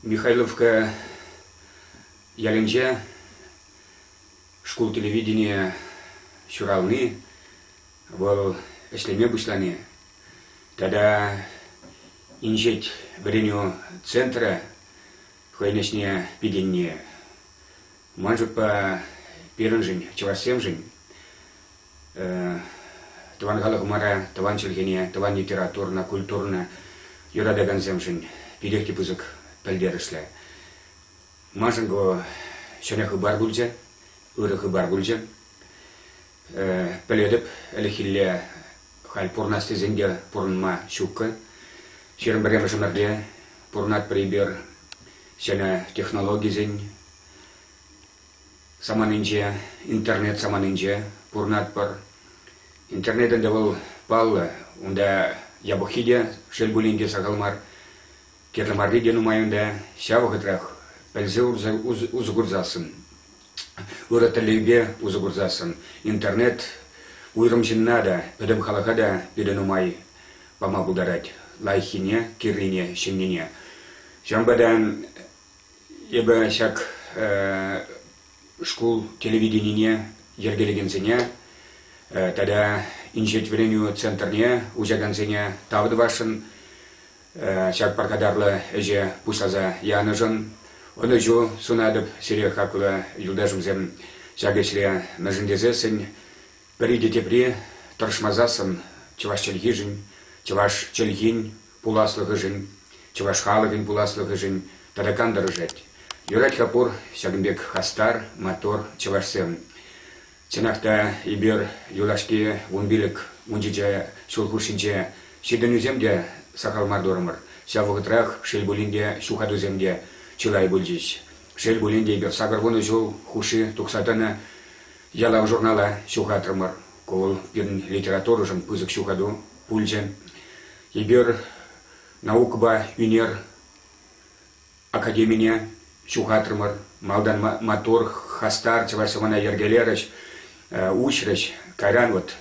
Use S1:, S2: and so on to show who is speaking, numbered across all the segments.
S1: Михайловка ялӗнче шкул телевиденийӗ ҫурални, вӑл ӗҫлеме пуҫлани тата Инҫет вӗренӳ центрӗ хӑйӗн ӗҫне пикенни Мальчикпа пирӗншӗн, чӑвашсемшӗн, тӑван халӑхӑмӑра, тӑван чӗлхене, тӑван литературӑна, культурӑна юратакансемшӗн питех те пысӑк пӗлтерӗшлӗ. Маншӑн ку ҫӗнӗ хыпар пулчӗ, ырӑ хыпар пулчӗ. Пӗлетӗп, ӗлӗкхилле халь пурӑнас тесен те пурӑнма ҫуккӑ. Ҫирӗм пӗрремӗш ӗмӗрте пурӑнатпӑр эпир ҫӗнӗ технологисен саманинче, интернет саманинче пурӑнатпӑр. Интернет ӗнтӗ вӑл паллӑ, унта япӑххи те, шел пулин те, сахал мар. Кирлӗ марри те нумай унта. Ҫав вӑхӑтрах пӗлсе усӑ, усӑ, усӑ курсассӑн, ырӑ тӗллевпе усӑ курсассӑн, интернет уйрӑм ҫынна та, пӗтӗм халӑха та питӗ нумай пама пултарать. Лайӑххине, кирлине, ҫӗннине. Ҫавӑнпа та Эпӗ ҫак шкул телевиденине йӗркелекенсене тата инҫет вӗренӳ центрне уҫакансене тав тӑвасшӑн. Ҫак пархатарлӑ ӗҫе пуҫласа янӑшӑн ӑнӑҫу сунатӑп сире, хаклӑ юлташӑмсем, ҫак ӗҫре мӗншӗн тесессӗн пӗри те тепри тӑрӑшмасассӑн чӑваш чӗлхишӗн, чӑваш чӗлхин Пуласлӑхӗшӗн, чӑваш халӑхӗн пуласлӑхӗшӗн тӑракан тӑрӑшать. Юрать-ха пур ҫакӑн пек хастар, мотор чӑвашсем. Чӑнах та, эпир юлашки вун пилӗк, вунҫичӗ ҫул хушшинче ҫитӗнӳсем те сахал мар турӑмӑр. Ҫав вӑхӑтрах, шел пулин те, ҫухатусем те чылай пулчӗҫ. Шел пулин те, эпир сакӑр вунӑ ҫул хушши тухса тӑнӑ Ялав журнала ҫухатрӑмӑр. Ку вӑл пирӗн литературӑшӑн пысӑк ҫухату пулчӗ. Эпир наукӑпа ӳнер академине ҫухатрӑмӑр. Малтан маттур, хастар чӑваш сӑвӑна йӗркелерӗҫ, уҫрӗҫ. Кайран вот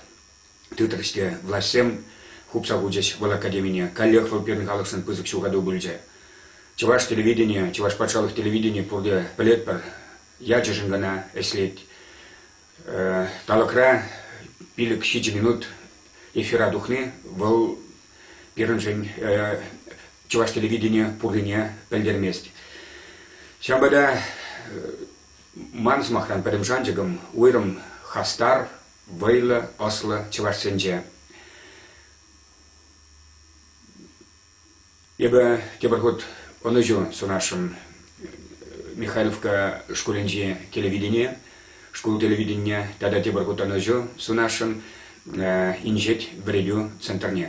S1: тытрӗҫ те влаҫсем хупса хучӗҫ вӑл академине. Каллех вӑл пирӗн халӑхшӑн пысӑк ҫухату пулчӗ. Чӑваш телевиденийӗ, чӑваш патшалӑх телевиденийӗ пурте пӗлетпӗр, ячӗшӗн кана ӗҫлет. Талӑкра пилӗк ҫичӗ минут эфира тухни вӑл пирӗншӗн чӑваш телевиденийӗ пуррине пӗлтермест. Ҫавӑнпа та ман сӑмахран пӗтӗм шанчӑкӑм уйрӑм хастар, вӑйлӑ, ӑслӑ чӑвашсенче. Эпӗ тепӗр хут ӑнӑҫу сунасшӑн Михайловка шкулӗнчи телевидение, шкул телевиденине тата тепӗр хут ӑнӑҫу сунасшӑн Инҫет вӗрепӳ центрне.